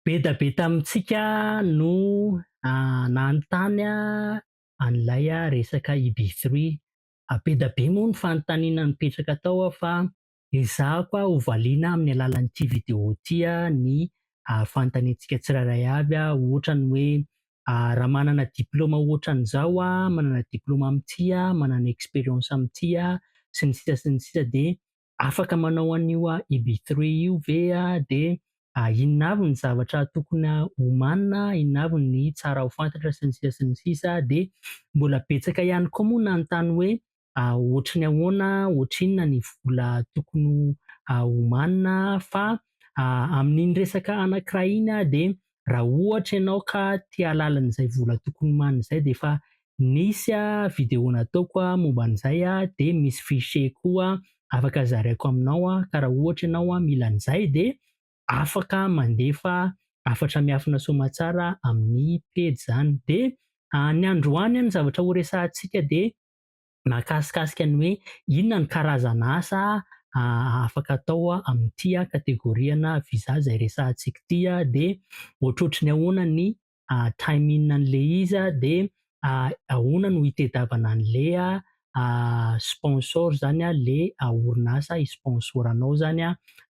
Be da be tamintsika no nanontany an'ilay resaka i Be Three. Be da be moa ny fanontaniana nipetraka tao aho fa ezahako ho valiana amin'ny alalan'ity video ity ny fanontaniantsika tsirairay avy ohatra ny hoe raha manana diplaoma ohatran'izao aho, manana diplaoma amin'ity aho, manana expérience amin'ity aho sy ny sisa sy ny sisa dia afaka manao an'io Ibithry io ve dia inona avy ny zavatra tokony homanina, inona avy ny tsara ho fantatra sy ny sisa sy ny sisa dia mbola betsaka ihany koa moa nanontany hoe ohatry ny ahoana, ohatry inona ny vola tokony homanina fa amin'iny resaka anankiray iny dia raha ohatra ianao ka te hahalala an'izay vola tokony homanina izay dia efa nisy video nataoko momba an'izay dia misy fichier koa afaka zaraiko aminao ka raha ohatra ianao mila an'izay dia afaka mandefa hafatra miafina soamatsara amin'ny pejy izany dia ny androany ny zavatra horesahantsika dia Nakasikasika ny hoe inona ny karazana asa afaka atao amin'ity kategoriana visa izay resahantsika ity dia ohatrohatry ny ahoana ny timing an'ilay izy dia ahoana no hitedavana an'ilay sponsor izany, ilay orinasa hi-sponsor anao izany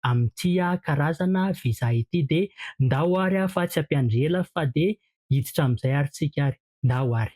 amin'ity karazana visa ity dia ndao ary fa tsy hampiandry ela fa dia hiditra amin'izay ary tsika ary. Ndao ary.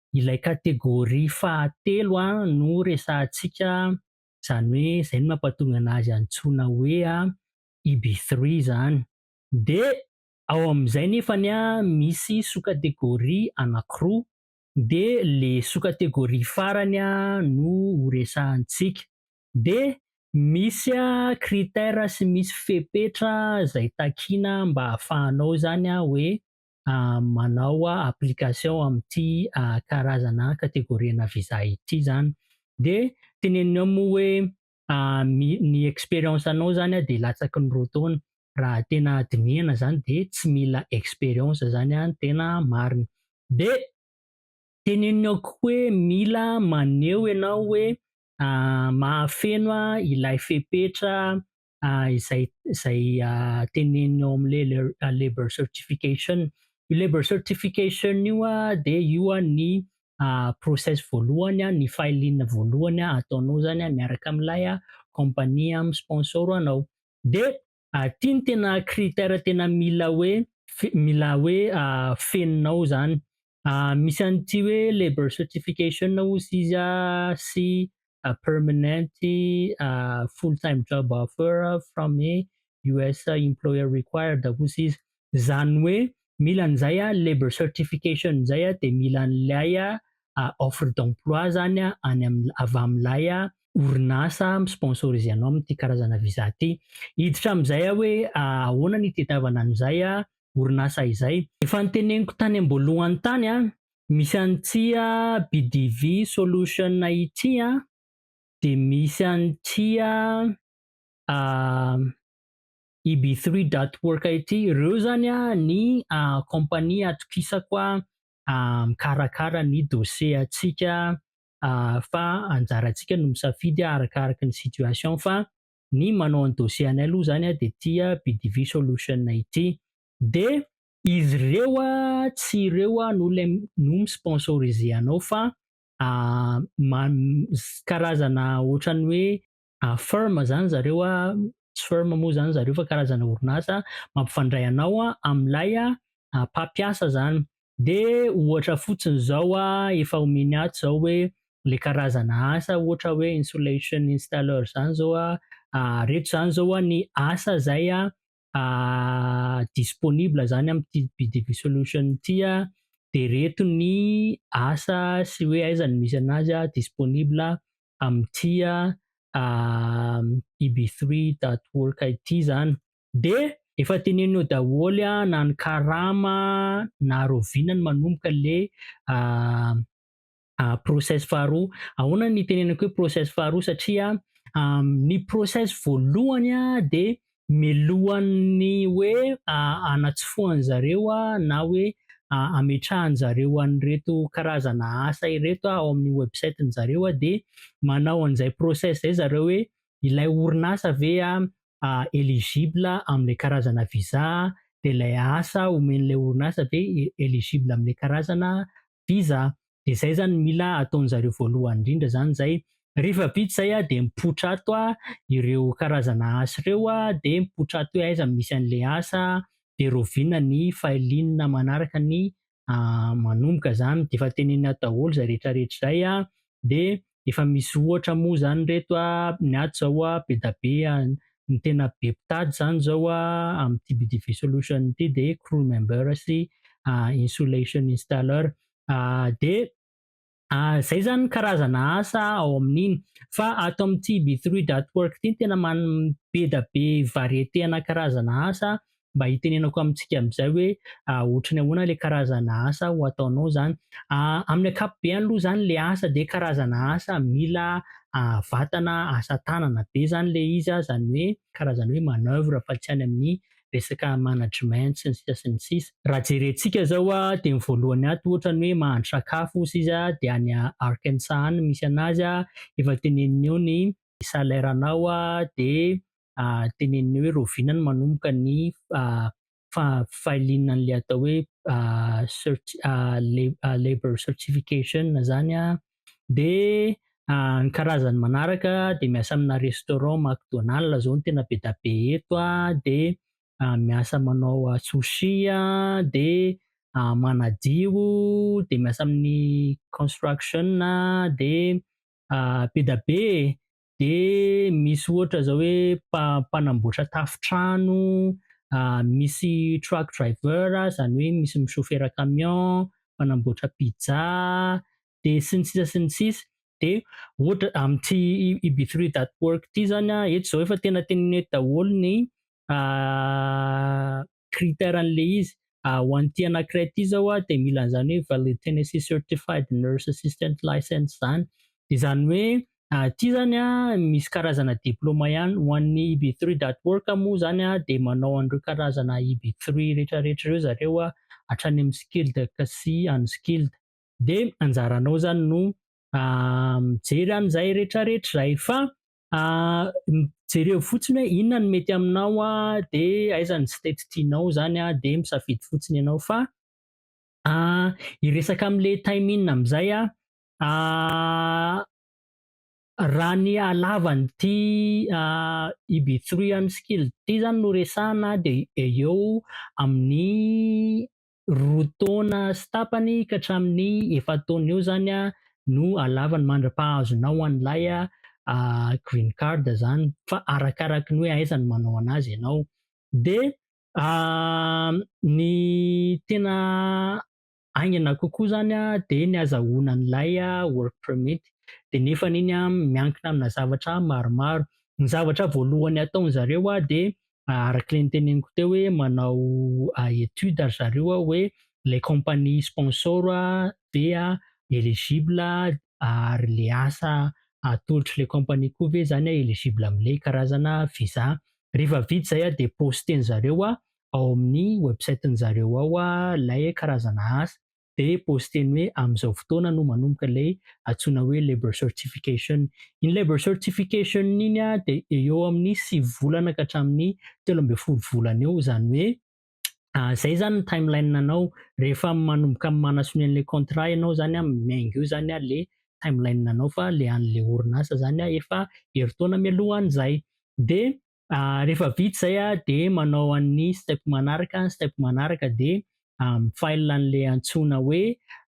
ilay catégorie fahatelo no resahantsika, izany hoe izay no mampatonga anazy antsoina hoe IB three izany. Dia ao amin'izay nefany misy sous-catégorie anankiroa, dia ilay sous-catégorie farany no ho resahantsika. Dia misy critère sy misy fepetra izay takiana mba hahafahanao izany hoe manao application amin'ity karazana kategoriana visa ity zany de teneniny ao moa hoe ny expérience anao zany dia latsaky ny roa taona raha tena dinihana zany dia tsy mila expérience zany an tena marina de teneniny ao koa hoe mila maneho ianao hoe mahafeno ilay fepetra izay izay teneniny ao amin'ilay le- labor certification io labor certification io a de io a ny ah, process voalohany a ny filing voalohany a ataonao zany a miaraka amin'ilay a compagnie am sponsor anao de ah, ty ny tena critère tena mila hoe fe- mila hoe ah, fenonao zany Misy an'ity hoe labour certification ozy izy sy permanent full time job offer from a US employer required ozy izy, izany hoe mila an'izay labour certification izay dia mila an'ilay offre d'emploi izany any amin'ny avy amin'ilay orinasa mi sponsoriser anao amin'ity karazana visa ity. Hiditra amin'izay aho hoe ahoana ny itadiavana an'izay orinasa izay. Efa noteneniko tany am-boalohany tany an, misy an'ny tsia BDV solution ity an, dia misy an'ny tsia ib three dot work ity, ireo izany ny compagnie atokisako mikarakara ny dossier antsika fa anjarantsika no misafidy arakaraka ny situation fa ny manao ny dossier anay aloha zany dia ity BDV solution ity dia izy ireo tsy ireo no ilay no mi sponsoriser anao fa karazana ohatran'ny hoe firm zany zareo tsy firm moa zany zareo fa karazana orinasa mampifandray anao amin'ilay mpampiasa zany De ohatra fotsiny zao a, efa omeny ato zao hoe le karazana asa ohatra hoe insulation installer zany zao a, reto zany zao a ny asa zay a disponible zany amty BDB solution ty a, de reto ny asa sy hoe aiza no misy anazy a disponible amty a eb3.org ity zany. De efa teneninao daholo an na ny karama na rahoviana ny manomboka le process faharoa. Ahoana ny itenenako hoe process faharoa satria ny process voalohany de melohan'ny hoe anatsofohany zareo na hoe ametrahany zareo an'ireto karazana asa ireto ao amin'ny website-ny zareo de manao an'izay process zay zareo hoe ilay orinasa ve eligible amin'ilay karazana visa dia ilay asa omen'ilay orinasa ve eligible amin'ilay karazana visa. Dia izay izany no mila ataon'izareo voalohany indrindra izany izay. Rehefa vita izay dia mipoitra ato ireo karazana asa ireo dia mipoitra ato hoe aiza no misy an'ilay asa dia raoviana ny file-na manaraka ny manomboka zany de efa tenenina daholo zay rehetra rehetra zay a de efa misy ohatra moa zany reto a ny ato zao a be da be a ny tena be mpitady zany zao a amin'ny TBDV solution ity de crew member sy insulation installer de Izay izany ny karazana asa ao amin'iny. Fa ato amin'ity Be Three Dot Work ity no tena be dia be variété ana karazana asa mba hitenenako amintsika amin'izay hoe ohatran'ny ahoana ilay karazana asa ho ataonao izany. Amin'ny ankapobeny aloha izany ilay asa dia karazana asa mila vatana asa tanana be izany ilay izy, izany hoe karazana hoe manoeuvre fa tsy any amin'ny resaka management sy ny sisa sy ny sisa. Raha jerentsika zao dia ny voalohany ato ohatra ny hoe mahandro sakafo ozy izy dia any Arkansas any no misy anazy efa teneniny eo ny salaire anao dia teneniny eo hoe rahoviana no manomboka ny filing an'ilay atao hoe labor certification zany Dia ny karazany manaraka dia miasa amina restaurant McDonald izao no tena be dia be eto dia miasa manao sushi dia manadio dia miasa amin'ny construction dia be dia be e! dia misy ohatra zao hoe mpanamboatra tafontrano, misy truck driver zany hoe misy misofera camion, mpanamboatra pizza, dia sy ny sisa sy ny sisa. Dia ohatra amin'ity Ibithree that work ity zany an, eto zao efa tena tenenina eto daholo ny critère an'le izy, ho an'ity anakiray ity zao dia mila an'izany hoe valid Tennessee certified nurse assistant license zany, izany hoe ity zany misy karazana diploma ihany, ho an'ny EB three dot org moa zany dia manao an'ireo karazana EB three retraretra ireo zareo hatrany amin'ny skilled sy unskilled, dia anjaranao zany no mijery an'izay retraretra izay fa Jereo fotsiny hoe inona no mety aminao dia aiza ny tsy tety tianao izany dia misafidy fotsiny ianao fa hiresaka amin'ilay time in amin'izay aho, raha ny halavan'ity EB three any skill ity izany no resahina dia eo amin'ny roa taona sy tapany ka hatramin'ny efa-taona eo zany a no alavany mandra-pahazonao an'ilay green card zany fa arakaraky ny hoe aiza no manao anazy ianao. Dia ny tena haingana kokoa zany a dia ny azahoana an'ilay work permit dia nefany iny a miankina amina zavatra maromaro. Ny zavatra voalohany ataon'zareo a dia araka le niteneniko teo hoe manao étude ry zareo a hoe le compagnie sponsor a dia éligible ary le asa atolotry le compagnie koa ve zany a éligible amle karazana visa. Refa vita zay a de poster-nzareo ao amin'ny website-njareo ao a lay karazana asa de poster-ny hoe amin'izao fotoana no manomboka ilay antsoina hoe labour certification. Iny labour certification iny a de eo amin'ny sivy volana ka hatramin'ny telo ambin'ny folo volana eo izany hoe izay ah, zany ny timeline anao rehefa manomboka manasonia an'ilay contrat ianao zany a miainga eo zany a le timeline anao fa le an'le orinasa zany a efa herintaona mialoha an'izay de Rehefa vita izay dia manao an'ny step manaraka, ny step manaraka dia mi-file an'ilay antsoina hoe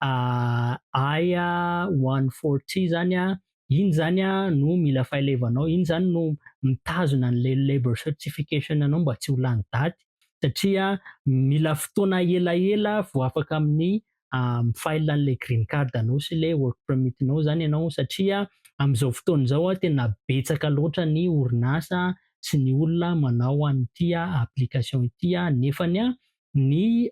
I one four three izany, iny izany no mila file-evanao, iny izany no mitazona an'ilay labour certification anao mba tsy ho lany daty satria mila fotoana elaela vao afaka amin'ny mi-file an'ilay green card anao sy ilay work permit nao zany ianao satria amin'izao fotoana izao tena betsaka loatra ny orinasa sy ny olona manao an'ity application ity nefa ny ny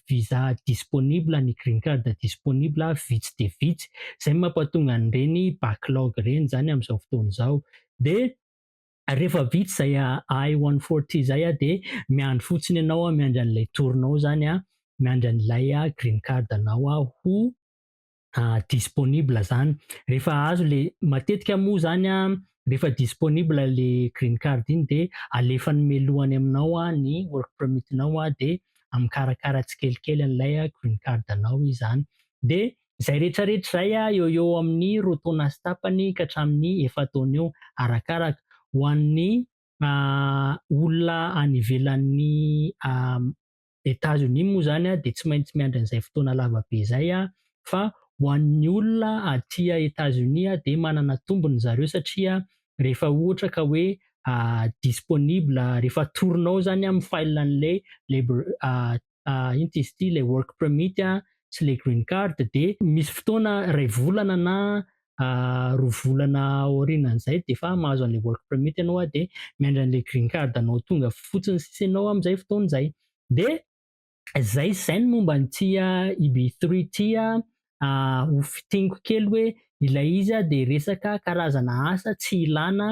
visa disponible ny green card disponible vitsy dia vitsy izay mampatonga an'ireny backlog ireny zany amin'izao fotoana izao dia rehefa vita izay ahay one forty izay aho dia miandry fotsiny ianao aho, miandry an'ilay tour-nao izany aho, miandry an'ilay green card-nao aho ho disponible izany. Rehefa azo ilay, matetika moa izany an, rehefa disponible ilay green card iny dia alefany mialoha any aminao ny work permit-nao dia mikarakara tsikelikely an'ilay green card-nao izy izany. Dia Izay rehetrarehetra izay eo eo amin'ny roa taona sy tapany ka hatramin'ny efa-taona eo arakaraka. Ho an'ny olona any ivelan'ny Etazonia moa izany dia tsy maintsy miandry an'izay fotoana lava be izay fa ho an'ny olona aty Etazonia dia manana tombony ry zareo satria rehefa ohatra ka hoe disponible, rehefa atoronao izany amin'ny file an'ilay Labor, ino ty izy ty ilay work permit sy ilay green card dia misy fotoana iray volana na roa volana aorianan'izay dia efa mahazo an'ilay work permit ianao a dia miandry an'ilay green card anao tonga fotsiny sisa ianao amin'izay fotoana izay dia izay izay ny momba an'ity EB3 ity a ho fitiniko kely hoe ilay izy dia resaka karazana asa tsy ilana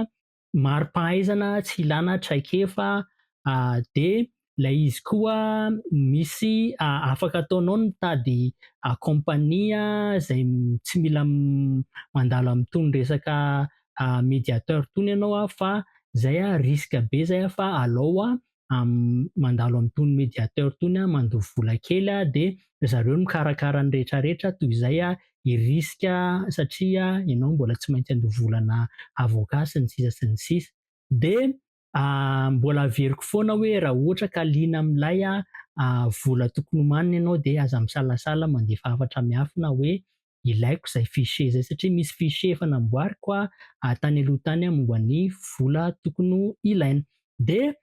mari-pahaizana tsy ilana traikefa dia ilay izy koa misy afaka ataonao ny mitady compagnie izay tsy mila mandalo amin'itony resaka mediateur itony ianao fa izay risque be izay fa alao mandalo amin'itony médiateur itony mandoa vola kely dia ry zareo no mikarakara ny rehetrarehetra toy izay i risque satria ianao mbola tsy maintsy handoa vola ana avocat sy ny sisa sy ny sisa dia mbola averiko foana hoe raha ohatra ka liana amin'ilay vola tokony homanina ianao dia aza misalasala mandefa hafatra miafina hoe ilaiko izay fichier izay satria misy fichier efa namboariko aho tany aloha tany momba ny vola tokony ho ilaina. Dia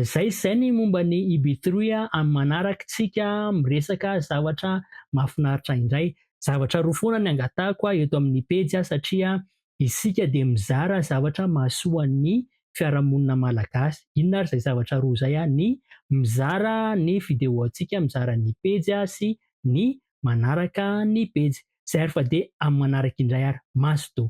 izay izay ny momba ny IB3 amin'ny manaraka tsika miresaka zavatra mahafinaritra indray. Zavatra roa foana ny angatahako eto amin'ny pejy satria isika dia mizara zavatra mahasoa ny fiarahamonina malagasy. Inona ary izay zavatra roa izay? Ny mizara ny vidéo antsika, mizara ny pejy sy ny manaraka ny pejy zay ary fa dia amin'ny manaraka indray ary mazotoa.